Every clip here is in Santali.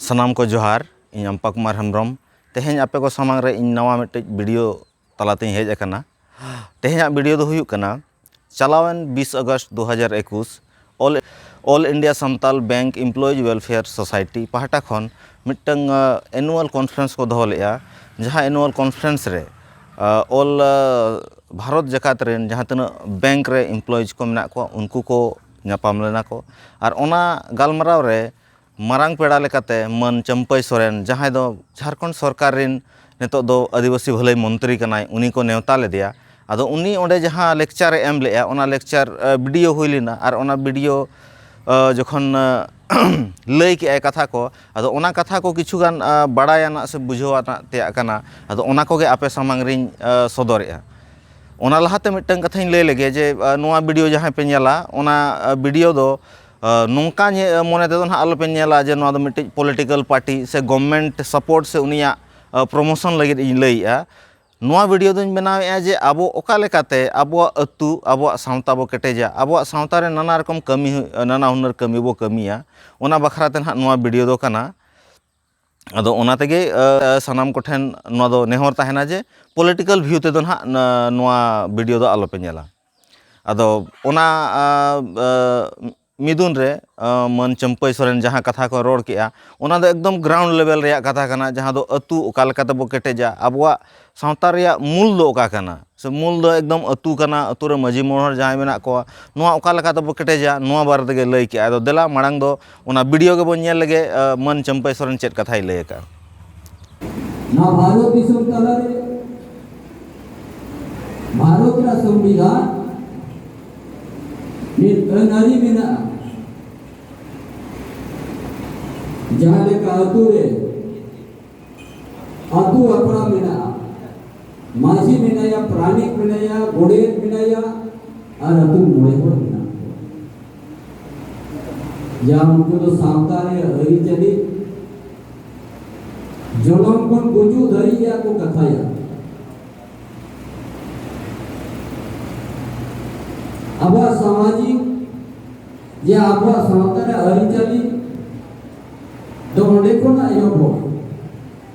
ᱥᱟᱱᱟᱢ ᱠᱚ ᱡᱚᱦᱟᱨ ᱤᱧ ᱟᱢᱯᱟ ᱠᱩᱢᱟᱨ ᱦᱮᱢᱵᱨᱚᱢ ᱛᱮᱦᱮᱧ ᱟᱯᱮ ᱠᱚ ᱥᱟᱢᱟᱝ ᱨᱮ ᱤᱧ ᱱᱟᱣᱟ ᱢᱤᱫᱴᱮᱡ ᱵᱷᱤᱰᱤᱭᱳ ᱛᱟᱞᱟᱛᱮᱧ ᱦᱮᱡ ᱟᱠᱟᱱᱟ ᱛᱮᱦᱮᱧᱟᱜ ᱵᱷᱤᱰᱤᱭᱳ ᱫᱚ ᱦᱩᱭᱩᱜ ᱠᱟᱱᱟ ᱪᱟᱞᱟᱣᱮᱱ ᱵᱤᱥ ᱟᱜᱚᱥᱴ ᱫᱩ ᱦᱟᱡᱟᱨ ᱮᱠᱩᱥ all all India Santal bank employees welfare society ᱯᱟᱦᱴᱟ ᱠᱷᱚᱱ ᱢᱤᱫᱴᱟᱝ ᱮᱱᱩᱣᱟᱞ ᱠᱚᱱᱯᱷᱟᱨᱮᱱᱥ ᱠᱚ ᱫᱚᱦᱚ ᱞᱮᱫᱼᱟ ᱡᱟᱦᱟᱸ ᱮᱱᱩᱣᱟᱞ ᱠᱚᱱᱯᱷᱟᱨᱮᱱᱥ ᱨᱮ ᱚᱞ ᱵᱷᱟᱨᱚᱛ ᱡᱟᱠᱟᱛ ᱨᱮᱱ ᱡᱟᱦᱟᱸ ᱛᱤᱱᱟᱹᱜ ᱵᱮᱝᱠ ᱨᱮ ᱤᱢᱯᱞᱚᱭᱤᱡᱽ ᱠᱚ ᱢᱮᱱᱟᱜ ᱠᱚᱣᱟ ᱩᱱᱠᱩ ᱠᱚ ᱧᱟᱯᱟᱢ ᱞᱮᱱᱟ ᱠᱚ ᱟᱨ ᱚᱱᱟ ᱜᱟᱞᱢᱟᱨᱟᱣ ᱨᱮ ᱢᱟᱨᱟᱝ ᱯᱮᱲᱟ ᱞᱮᱠᱟᱛᱮ ᱢᱟᱹᱱ ᱪᱟᱹᱢᱯᱟᱹᱭ ᱥᱚᱨᱮᱱ ᱡᱟᱦᱟᱸᱭ ᱫᱚ ᱡᱷᱟᱲᱠᱷᱚᱸᱰ ᱥᱚᱨᱠᱟᱨ ᱨᱮᱱ ᱱᱤᱛᱚᱜ ᱫᱚ ᱟᱹᱫᱤᱵᱟᱹᱥᱤ ᱵᱷᱟᱹᱞᱟᱹᱭ ᱢᱚᱱᱛᱨᱤ ᱠᱟᱱᱟᱭ ᱩᱱᱤ ᱠᱚ ᱱᱮᱶᱛᱟ ᱞᱮᱫᱮᱭᱟ ᱟᱫᱚ ᱩᱱᱤ ᱚᱸᱰᱮ ᱡᱟᱦᱟᱸ ᱞᱮᱠᱪᱟᱨᱮ ᱮᱢ ᱞᱮᱫᱼᱟ ᱚᱱᱟ ᱞᱮᱠᱪᱟᱨ ᱵᱷᱤᱰᱤᱭᱳ ᱦᱩᱭ ᱞᱮᱱᱟ ᱟᱨ ᱚᱱᱟ ᱵᱷᱤᱰᱤᱭᱳ ᱡᱚᱠᱷᱚᱱ ᱞᱟᱹᱭ ᱠᱮᱫᱼᱟᱭ ᱠᱟᱛᱷᱟ ᱠᱚ ᱟᱫᱚ ᱚᱱᱟ ᱠᱟᱛᱷᱟ ᱠᱚ ᱠᱤᱪᱷᱩ ᱜᱟᱱ ᱵᱟᱲᱟᱭ ᱟᱱᱟᱜ ᱥᱮ ᱵᱩᱡᱷᱟᱹᱣ ᱟᱱᱟᱜ ᱛᱮᱭᱟᱜ ᱠᱟᱱᱟ ᱟᱫᱚ ᱚᱱᱟ ᱠᱚᱜᱮ ᱟᱯᱮ ᱥᱟᱢᱟᱝ ᱨᱤᱧ ᱥᱚᱫᱚᱨᱮᱜᱼᱟ ᱚᱱᱟ ᱞᱟᱦᱟᱛᱮ ᱢᱤᱫᱴᱟᱝ ᱠᱟᱛᱷᱟᱧ ᱞᱟᱹᱭ ᱞᱮᱜᱮ ᱡᱮ ᱱᱚᱣᱟ ᱵᱷᱤᱰᱤᱭᱳ ᱡᱟᱦᱟᱸᱭ ᱯᱮ ᱧᱮᱞᱟ ᱚᱱᱟ ᱵᱷᱤᱰᱤᱭᱳ ᱫᱚ ᱱᱚᱝᱠᱟ ᱢᱚᱱᱮ ᱛᱮᱫᱚ ᱱᱟᱦᱟᱜ ᱟᱞᱚᱯᱮ ᱧᱮᱞᱟ ᱡᱮ ᱱᱚᱣᱟ ᱫᱚ ᱢᱤᱫᱴᱤᱡ ᱯᱚᱞᱤᱴᱤᱠᱮᱞ ᱯᱟᱨᱴᱤ ᱥᱮ ᱜᱚᱵᱷᱢᱮᱱᱴ ᱥᱟᱯᱳᱨᱴ ᱥᱮ ᱩᱱᱤᱭᱟᱜ ᱯᱨᱚᱢᱳᱥᱚᱱ ᱞᱟᱹᱜᱤᱫ ᱤᱧ ᱞᱟᱹᱭᱮᱜᱼᱟ ᱱᱚᱣᱟ ᱵᱷᱤᱰᱤᱭᱳ ᱫᱚᱧ ᱵᱮᱱᱟᱣᱮᱫᱼᱟ ᱡᱮ ᱟᱵᱚ ᱚᱠᱟ ᱞᱮᱠᱟᱛᱮ ᱟᱵᱚᱣᱟᱜ ᱟᱹᱛᱩ ᱟᱵᱚᱣᱟᱜ ᱥᱟᱶᱛᱟ ᱵᱚ ᱠᱮᱴᱮᱡᱟ ᱟᱵᱚᱣᱟᱜ ᱥᱟᱶᱛᱟ ᱨᱮ ᱱᱟᱱᱟ ᱨᱚᱠᱚᱢ ᱠᱟᱹᱢᱤ ᱱᱟᱱᱟ ᱦᱩᱱᱟᱹᱨ ᱠᱟᱹᱢᱤ ᱵᱚ ᱠᱟᱹᱢᱤᱭᱟ ᱚᱱᱟ ᱵᱟᱠᱷᱨᱟ ᱛᱮ ᱱᱟᱦᱟᱜ ᱱᱚᱣᱟ ᱵᱷᱤᱰᱤᱭᱳ ᱫᱚ ᱠᱟᱱᱟ ᱟᱫᱚ ᱚᱱᱟ ᱛᱮᱜᱮ ᱥᱟᱱᱟᱢ ᱠᱚᱴᱷᱮᱱ ᱱᱚᱣᱟ ᱫᱚ ᱱᱮᱦᱚᱨ ᱛᱟᱦᱮᱱᱟ ᱡᱮ ᱯᱚᱞᱤᱴᱤᱠᱮᱞ ᱵᱷᱤᱭᱩ ᱛᱮᱫᱚ ᱱᱟᱦᱟᱜ ᱱᱚᱣᱟ ᱵᱷᱤᱰᱤᱭᱳ ᱫᱚ ᱟᱞᱚᱯᱮ ᱧᱮᱞᱟ ᱟᱫᱚ ᱚᱱᱟ ᱢᱤᱫᱩᱱ ᱨᱮ ᱢᱟᱹᱱ ᱪᱟᱹᱢᱯᱟᱹᱭ ᱥᱚᱨᱮᱱ ᱡᱟᱦᱟᱸ ᱠᱟᱛᱷᱟ ᱠᱚ ᱨᱚᱲ ᱠᱮᱜᱼᱟ ᱚᱱᱟ ᱫᱚ ᱮᱠᱫᱚᱢ ᱜᱨᱟᱣᱩᱱᱰ ᱞᱮᱵᱮᱞ ᱨᱮᱭᱟᱜ ᱠᱟᱛᱷᱟ ᱠᱟᱱᱟ ᱡᱟᱦᱟᱸ ᱫᱚ ᱟᱹᱛᱩ ᱚᱠᱟ ᱞᱮᱠᱟ ᱛᱮᱵᱚ ᱠᱮᱴᱮᱡᱟ ᱟᱵᱚᱣᱟᱜ ᱥᱟᱶᱛᱟ ᱨᱮᱭᱟᱜ ᱢᱩᱞ ᱫᱚ ᱚᱠᱟ ᱠᱟᱱᱟ ᱥᱮ ᱢᱩᱞ ᱫᱚ ᱮᱠᱫᱚᱢ ᱟᱹᱛᱩ ᱠᱟᱱᱟ ᱟᱹᱛᱩ ᱨᱮ ᱢᱟᱹᱡᱷᱤ ᱢᱚᱬᱮ ᱦᱚᱲ ᱡᱟᱦᱟᱸᱭ ᱢᱮᱱᱟᱜ ᱠᱚᱣᱟ ᱱᱚᱣᱟ ᱚᱠᱟ ᱞᱮᱠᱟ ᱛᱮᱵᱚ ᱠᱮᱴᱮᱡᱟ ᱱᱚᱣᱟ ᱵᱟᱨᱮ ᱛᱮᱜᱮ ᱞᱟᱹᱭ ᱠᱮᱜᱼᱟᱭ ᱟᱫᱚ ᱫᱮᱞᱟ ᱢᱟᱲᱟᱝ ᱫᱚ ᱚᱱᱟ ᱵᱷᱤᱰᱭᱳ ᱜᱮᱵᱚᱱ ᱧᱮᱞ ᱞᱮᱜᱮ ᱢᱟᱹᱱ ᱪᱟᱹᱢᱯᱟᱹᱭ ᱥᱚᱨᱮᱱ ᱪᱮᱫ ᱠᱟᱛᱷᱟᱭ ᱞᱟᱹᱭ ᱠᱟᱜᱼᱟ ᱱᱚᱣᱟ ᱵᱷᱟᱨᱚᱛ ᱫᱤᱥᱚᱢ ᱛᱟᱞᱟᱨᱮ ᱵᱷᱟᱨᱚᱛ ᱨᱮᱱᱟᱜ ᱥᱚᱝᱵᱤᱫᱷᱟᱱ ᱢᱤᱫ ᱟᱹᱱ ᱟᱹᱨᱤ ᱢᱮᱱᱟᱜᱼᱟ ᱡᱟᱦᱟᱸ ᱞᱮᱠᱟ ᱟᱹᱛᱩ ᱨᱮ ᱟᱹᱛᱩ ᱟᱯᱲᱟ ᱢᱮᱱᱟᱜᱼᱟ ᱢᱟᱹᱡᱷᱤ ᱢᱮᱱᱟᱭᱟ ᱯᱨᱟᱱᱤᱠ ᱢᱮᱱᱟᱭᱟ ᱜᱚᱰᱮᱛ ᱢᱮᱱᱟᱭᱟ ᱟᱨ ᱟᱹᱛᱩ ᱢᱚᱬᱮ ᱦᱚᱲ ᱡᱟᱦᱟᱸ ᱩᱱᱠᱩ ᱫᱚ ᱥᱟᱶᱛᱟ ᱨᱮᱭᱟᱜ ᱟᱹᱨᱤᱪᱟᱹᱞᱤ ᱡᱚᱱᱚᱢ ᱠᱷᱚᱱ ᱜᱩᱡᱩᱜ ᱫᱷᱟᱹᱨᱤᱡ ᱨᱮᱭᱟᱜ ᱠᱚ ᱠᱟᱛᱷᱟᱭᱟ ᱟᱵᱚᱣᱟᱜ ᱥᱟᱢᱟᱡᱤᱠ ᱡᱮ ᱟᱵᱚᱣᱟᱜ ᱥᱟᱶᱛᱟ ᱨᱮᱭᱟᱜ ᱟᱹᱨᱤᱪᱟᱹᱞᱤ ᱫᱚ ᱚᱸᱰᱮ ᱠᱷᱚᱱᱟᱜ ᱮᱦᱚᱵᱚᱜᱼᱟ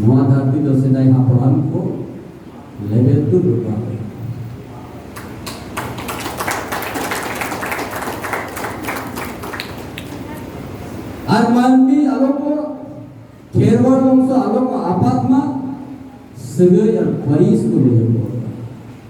ᱱᱚᱣᱟ ᱫᱷᱟᱹᱨᱛᱤ ᱫᱚ ᱥᱮᱫᱟᱭ ᱦᱟᱯᱲᱟᱢ ᱠᱚ ᱞᱮᱵᱮᱞ ᱫᱚ ᱵᱮᱯᱟᱨ ᱟᱨ ᱢᱟᱹᱱᱢᱤ ᱟᱞᱚ ᱠᱚ ᱠᱷᱮᱨᱣᱟᱲ ᱵᱚᱝᱥᱚ ᱟᱞᱚ ᱠᱚ ᱟᱯᱟᱛ ᱢᱟ ᱥᱟᱹᱜᱟᱹᱭ ᱟᱨ ᱯᱟᱹᱨᱤᱥ ᱠᱚ ᱞᱟᱹᱭ ᱟᱠᱚᱣᱟ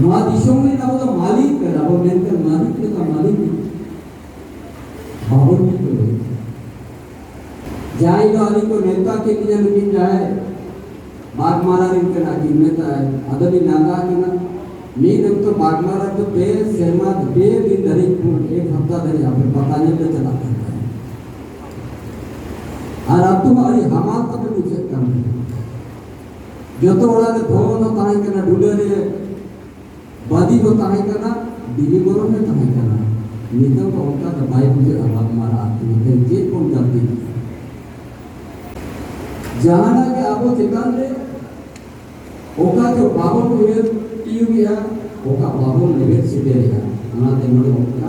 ᱱᱚᱣᱟ ᱫᱤᱥᱚᱢ ᱨᱮ ᱟᱵᱚ ᱫᱚ ᱢᱟᱹᱞᱤᱠ ᱠᱟᱱᱟ ᱟᱵᱚ ᱢᱮᱱᱛᱮ ᱢᱟᱹᱞᱤᱠ ᱞᱮᱠᱟ ᱢᱟᱹᱞᱤᱠ ᱵᱟᱵᱚᱱ ᱴᱷᱤᱠᱟᱹ ᱡᱟᱦᱟᱸᱭ ᱫᱚ ᱟᱹᱞᱤᱧ ᱠᱚ ᱱᱮᱣᱛᱟ ᱠᱮᱫ ᱞᱤᱧᱟ ᱱᱩᱠᱤᱱ ᱡᱟᱦᱟᱸᱭ ᱵᱟᱜᱽᱢᱟᱨᱟ ᱨᱮᱱ ᱠᱟᱱᱟ ᱠᱤᱱ ᱱᱮᱣᱛᱟ ᱟᱫᱚ ᱞᱤᱧ ᱞᱟᱸᱫᱟ ᱠᱟᱱᱟ ᱢᱤᱫ ᱚᱠᱛᱚ ᱵᱟᱜᱽᱢᱟᱨᱟ ᱫᱚ ᱯᱮ ᱥᱮᱨᱢᱟ ᱯᱮ ᱫᱤᱱ ᱫᱷᱟᱹᱨᱤᱡ ᱮᱠ ᱦᱟᱯᱛᱟ ᱫᱷᱟᱹᱨᱤᱡ ᱟᱯᱮ ᱯᱟᱛᱟ ᱧᱮᱞ ᱞᱮ ᱪᱟᱞᱟᱜ ᱠᱟᱱᱟ ᱟᱨ ᱟᱛᱳ ᱟᱹᱰᱤ ᱦᱟᱢᱟᱞ ᱛᱟᱯᱮ ᱵᱩᱡᱷᱟᱹᱜ ᱠᱟᱱ ᱛᱟᱦᱮᱸᱫ ᱡᱚᱛᱚ ᱚᱲᱟᱜ ᱨᱮ ᱫᱷᱚᱨᱚᱢ ᱫᱚ ᱛᱟᱦᱮᱸ ᱠᱟᱱᱟ ᱰᱩᱞᱟᱹ ᱨᱮ ᱵᱟᱫᱤ ᱫᱚ ᱛᱟᱦᱮᱸ ᱠᱟᱱᱟ ᱵᱤᱞᱤ ᱜᱚᱨᱚᱢ ᱨᱮ ᱛᱟᱦᱮᱸ ᱠᱟᱱᱟ ᱱᱤᱛᱚᱜ ᱫᱚ ᱚᱱᱠᱟ ᱫᱚ ᱵᱟᱭ ᱵᱩᱡᱷᱟᱹᱜᱼᱟ ᱵᱟᱝ ᱢᱟᱨᱟ ᱟᱛᱳ ᱛᱮ ᱪᱮᱫ ᱵᱚᱱ ᱜᱟᱛᱮ ᱡᱟᱦᱟᱱᱟᱜ ᱜᱮ ᱟᱵᱚ ᱪᱮᱛᱟᱱ ᱨᱮ ᱚᱠᱟ ᱫᱚ ᱵᱟᱵᱚᱱ ᱩᱭᱦᱟᱹᱨ ᱛᱤᱭᱩᱜᱮᱜᱼᱟ ᱚᱠᱟ ᱵᱟᱵᱚᱱ ᱞᱮᱵᱮᱫ ᱥᱮᱴᱮᱨᱮᱜᱼᱟ ᱚᱱᱟᱛᱮ ᱱᱚᱰᱮ ᱚᱱᱠᱟ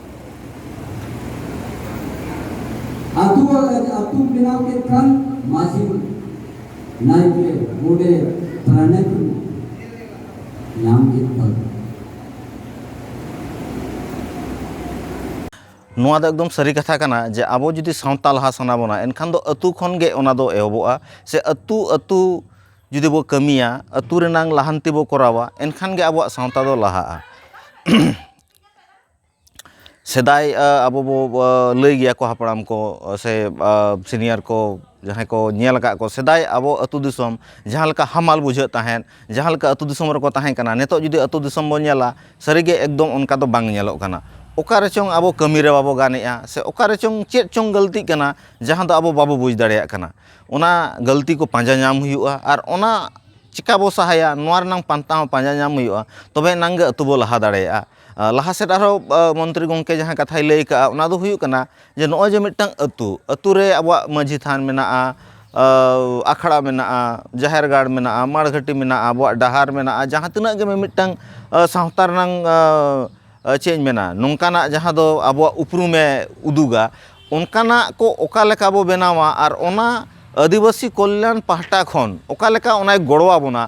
ᱟᱛᱩ ᱟᱛᱩ ᱵᱮᱱᱟᱣ ᱠᱮᱫ ᱠᱷᱟᱱ ᱢᱟᱹᱡᱷᱤ ᱱᱟᱭᱠᱮ ᱜᱚᱰᱮᱛ ᱯᱟᱨᱟᱱᱤᱠ ᱧᱟᱢ ᱠᱮᱫ ᱠᱚᱣᱟ ᱱᱚᱣᱟ ᱫᱚ ᱮᱠᱫᱚᱢ ᱥᱟᱹᱨᱤ ᱠᱟᱛᱷᱟ ᱠᱟᱱᱟ ᱡᱮ ᱟᱵᱚ ᱡᱩᱫᱤ ᱥᱟᱶᱛᱟ ᱞᱟᱦᱟ ᱥᱟᱱᱟ ᱵᱚᱱᱟ ᱮᱱᱠᱷᱟᱱ ᱫᱚ ᱟᱹᱛᱩ ᱠᱷᱚᱱ ᱜᱮ ᱚᱱᱟ ᱫᱚ ᱮᱦᱚᱵᱚᱜᱼᱟ ᱥᱮ ᱟᱹᱛᱩ ᱟᱹᱛᱩ ᱡᱩᱫᱤ ᱵᱚ ᱠᱟᱹᱢᱤᱭᱟ ᱟᱹᱛᱩ ᱨᱮᱱᱟᱝ ᱞᱟᱦᱟᱱᱛᱤ ᱵᱚ ᱠᱚᱨᱟᱣᱟ ᱮᱱᱠᱷᱟᱱ ᱜᱮ ᱟᱵᱚᱣᱟᱜ ᱥᱟᱶᱛᱟ ᱫᱚ ᱞᱟᱦᱟᱜᱼᱟ ᱥᱮᱫᱟᱭ ᱟᱵᱚ ᱵᱚ ᱞᱟᱹᱭ ᱜᱮᱭᱟ ᱠᱚ ᱦᱟᱯᱲᱟᱢ ᱠᱚ ᱥᱮ ᱥᱤᱱᱤᱭᱟᱨ ᱠᱚ ᱡᱟᱦᱟᱸᱭ ᱠᱚ ᱧᱮᱞ ᱟᱠᱟᱫ ᱠᱚ ᱥᱮᱫᱟᱭ ᱟᱵᱚ ᱟᱛᱳ ᱫᱤᱥᱚᱢ ᱡᱟᱦᱟᱸ ᱞᱮᱠᱟ ᱦᱟᱢᱟᱞ ᱵᱩᱡᱷᱟᱹᱜ ᱛᱟᱦᱮᱸᱫ ᱡᱟᱦᱟᱸ ᱞᱮᱠᱟ ᱟᱛᱳ ᱫᱤᱥᱚᱢ ᱨᱮᱠᱚ ᱛᱟᱦᱮᱸ ᱠᱟᱱᱟ ᱱᱤᱛᱚᱜ ᱡᱩᱫᱤ ᱟᱛᱳ ᱫᱤᱥᱚᱢ ᱵᱚᱱ ᱧᱮᱞᱟ ᱥᱟᱹᱨᱤ ᱜᱮ ᱮᱠᱫᱚᱢ ᱚᱱᱠᱟ ᱫᱚ ᱵᱟᱝ ᱧᱮᱞᱚᱜ ᱠᱟᱱᱟ ᱚᱠᱟ ᱨᱮᱪᱚᱝ ᱟᱵᱚ ᱠᱟᱹᱢᱤ ᱨᱮ ᱵᱟᱵᱚ ᱜᱟᱱ ᱮᱫᱼᱟ ᱥᱮ ᱚᱠᱟ ᱨᱮᱪᱚᱝ ᱪᱮᱫ ᱪᱚᱝ ᱜᱟᱹᱞᱛᱤᱜ ᱠᱟᱱᱟ ᱡᱟᱦᱟᱸ ᱫᱚ ᱟᱵᱚ ᱵᱟᱵᱚ ᱵᱩᱡᱽ ᱫᱟᱲᱮᱭᱟᱜ ᱠᱟᱱᱟ ᱚᱱᱟ ᱜᱟᱹᱞᱛᱤ ᱠᱚ ᱯᱟᱸᱡᱟ ᱧᱟᱢ ᱦᱩᱭᱩᱜᱼᱟ ᱟᱨ ᱚᱱᱟ ᱪᱤᱠᱟᱹ ᱵᱚᱱ ᱥᱟᱦᱟᱭᱟ ᱱᱚᱣᱟ ᱨᱮᱱᱟᱜ ᱯᱟᱱᱛᱷᱟ ᱦᱚᱸ ᱯᱟᱸᱡᱟ ᱧᱟᱢ ᱦᱩᱭᱩᱜᱼᱟ ᱛᱚᱵᱮ ᱮᱱᱟᱝ ᱜᱮ ᱟᱛᱳ ᱵᱚᱱ ᱞᱟᱦᱟ ᱫᱟᱲᱮᱭᱟᱜᱼᱟ ᱞᱟᱦᱟ ᱥᱮᱫ ᱟᱨᱦᱚᱸ ᱢᱚᱱᱛᱨᱤ ᱜᱚᱢᱠᱮ ᱡᱟᱦᱟᱸ ᱠᱟᱛᱷᱟᱭ ᱞᱟᱹᱭ ᱠᱟᱜᱼᱟ ᱚᱱᱟ ᱫᱚ ᱦᱩᱭᱩᱜ ᱠᱟᱱᱟ ᱡᱮ ᱱᱚᱜᱼᱚᱭ ᱡᱮ ᱢᱤᱫᱴᱟᱱ ᱟᱹᱛᱩ ᱟᱹᱛᱩ ᱨᱮ ᱟᱵᱚᱣᱟᱜ ᱢᱟᱹᱡᱷᱤ ᱛᱷᱟᱱ ᱢᱮᱱᱟᱜᱼᱟ ᱟᱠᱷᱲᱟ ᱢᱮᱱᱟᱜᱼᱟ ᱡᱟᱦᱮᱨ ᱜᱟᱲ ᱢᱮᱱᱟᱜᱼᱟ ᱢᱟᱬ ᱜᱷᱟᱹᱴᱤ ᱢᱮᱱᱟᱜᱼᱟ ᱟᱵᱚᱣᱟᱜ ᱰᱟᱦᱟᱨ ᱢᱮᱱᱟᱜᱼᱟ ᱡᱟᱦᱟᱸ ᱛᱤᱱᱟᱹᱜ ᱜᱮ ᱢᱤᱢᱤᱫᱴᱟᱱ ᱥᱟᱶᱛᱟ ᱨᱮᱱᱟᱝ ᱪᱮᱫ ᱤᱧ ᱢᱮᱱᱟ ᱱᱚᱝᱠᱟᱱᱟᱜ ᱡᱟᱦᱟᱸ ᱫᱚ ᱟᱵᱚᱣᱟᱜ ᱩᱯᱨᱩᱢᱮ ᱩᱫᱩᱜᱟ ᱚᱱᱠᱟᱱᱟᱜ ᱠᱚ ᱚᱠᱟ ᱞᱮᱠᱟ ᱵᱚᱱ ᱵᱮᱱᱟᱣᱟ ᱟᱨ ᱚᱱᱟ ᱟᱹᱫᱤᱵᱟᱹᱥᱤ ᱠᱚᱞᱞᱟᱱ ᱯᱟᱦᱴᱟ ᱠᱷᱚᱱ ᱚᱠᱟ ᱞᱮᱠᱟ ᱚᱱᱟᱭ ᱜᱚᱲᱚ ᱟᱵᱚᱱᱟ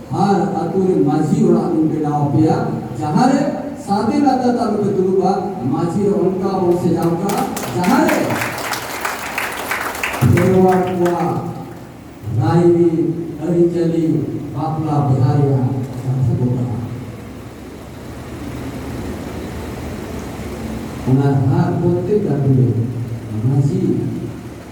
ᱟᱨ ᱟᱹᱛᱩ ᱨᱮ ᱢᱟᱹᱡᱷᱤ ᱚᱲᱟᱜ ᱫᱩᱧ ᱵᱮᱱᱟᱣ ᱟᱯᱮᱭᱟ ᱡᱟᱦᱟᱸ ᱨᱮ ᱥᱟᱫᱮ ᱞᱟᱛᱟᱨ ᱛᱮ ᱟᱞᱚᱯᱮ ᱫᱩᱲᱩᱵᱟ ᱢᱟᱹᱡᱷᱤ ᱫᱚ ᱚᱱᱠᱟ ᱵᱚᱱ ᱥᱮᱡᱟᱣ ᱠᱟᱜᱼᱟ ᱡᱟᱦᱟᱸ ᱨᱮ ᱠᱷᱮᱨᱣᱟᱲ ᱠᱚᱣᱟᱜ ᱨᱟᱭᱨᱤ ᱟᱹᱨᱤᱪᱟᱹᱞᱤ ᱵᱟᱯᱞᱟ ᱵᱤᱦᱟ ᱨᱮᱭᱟᱜ ᱠᱟᱛᱷᱟ ᱠᱚ ᱠᱟᱱᱟ ᱚᱱᱟ ᱦᱟᱨ ᱯᱨᱚᱛᱮᱠ ᱟᱹᱛᱩ ᱨᱮ ᱢᱟᱹᱡᱷᱤ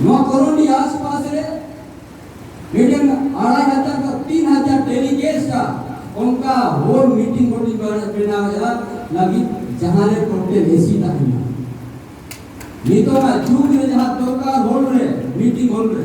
ᱱᱚᱣᱟ ᱠᱚᱨᱚᱱᱰᱤ ᱟᱥᱯᱟᱥ ᱨᱮ ᱢᱤᱫᱴᱮᱱ ᱟᱲᱟᱭ ᱦᱟᱡᱟᱨ ᱠᱷᱚᱱ ᱛᱤᱱ ᱦᱟᱡᱟᱨ ᱰᱮᱞᱤᱜᱮᱴᱥ ᱟᱜ ᱚᱱᱠᱟ ᱦᱳᱞ ᱢᱤᱴᱤᱝ ᱵᱚᱰᱤ ᱵᱮᱱᱟᱣᱮᱫᱼᱟ ᱞᱟᱹᱜᱤᱫ ᱡᱟᱦᱟᱸ ᱨᱮ ᱴᱳᱴᱮᱞ ᱮᱥᱤ ᱛᱟᱦᱮᱱᱟ ᱱᱤᱛᱚᱜ ᱡᱩᱜᱽ ᱨᱮ ᱡᱟᱦᱟᱸ ᱫᱚᱨᱠᱟᱨ ᱦᱳᱞ ᱨᱮ ᱢᱤᱴᱤᱝ ᱦᱳᱞ ᱨᱮ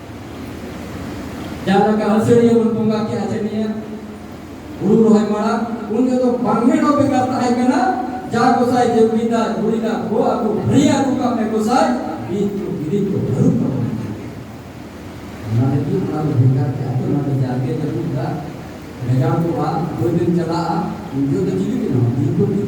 ᱡᱟᱦᱟᱸ ᱞᱮᱠᱟ ᱟᱹᱥᱟᱹᱲᱤᱭᱟᱹ ᱵᱚᱱ ᱵᱚᱸᱜᱟ ᱠᱮᱫ ᱟᱹᱥᱟᱹᱲᱤᱭᱟᱹ ᱦᱩᱲᱩ ᱨᱚᱦᱚᱭ ᱢᱟᱲᱟᱝ ᱩᱱ ᱫᱚ ᱵᱟᱝᱦᱮ ᱫᱚ ᱵᱮᱠᱟᱨ ᱛᱟᱦᱮᱸ ᱠᱟᱱᱟ ᱡᱟ ᱜᱚᱥᱟᱭ ᱡᱮᱵᱤᱫᱟ ᱜᱩᱲᱤᱫᱟ ᱠᱚ ᱟᱠᱚ ᱵᱷᱟᱹᱨᱤ ᱟᱠᱚ ᱠᱟᱜ ᱢᱮ ᱜᱚᱥᱟᱭ ᱵᱤᱫ ᱠᱚ ᱵᱤᱫ ᱠᱚ ᱵᱷᱟᱹᱨᱩ ᱠᱚ ᱚᱱᱟ ᱞᱟᱹᱜᱤᱫ ᱚᱱᱟ ᱫᱚ ᱵᱮᱠᱟᱨ ᱛᱮ ᱟᱫᱚ ᱚᱱᱟ ᱫᱚ ᱡᱟᱜᱮ ᱡᱟᱹᱯᱩᱫᱟ ᱨᱮᱡᱟᱲ ᱠᱚᱜᱼᱟ ᱵᱟᱹᱭ ᱵᱟᱹᱭ ᱪᱟᱞᱟᱜᱼᱟ ᱩᱱ ᱫᱚ ᱪᱤᱞᱤ ᱠᱟᱱᱟ ᱵᱤᱨ ᱠᱚ ᱵᱤᱨ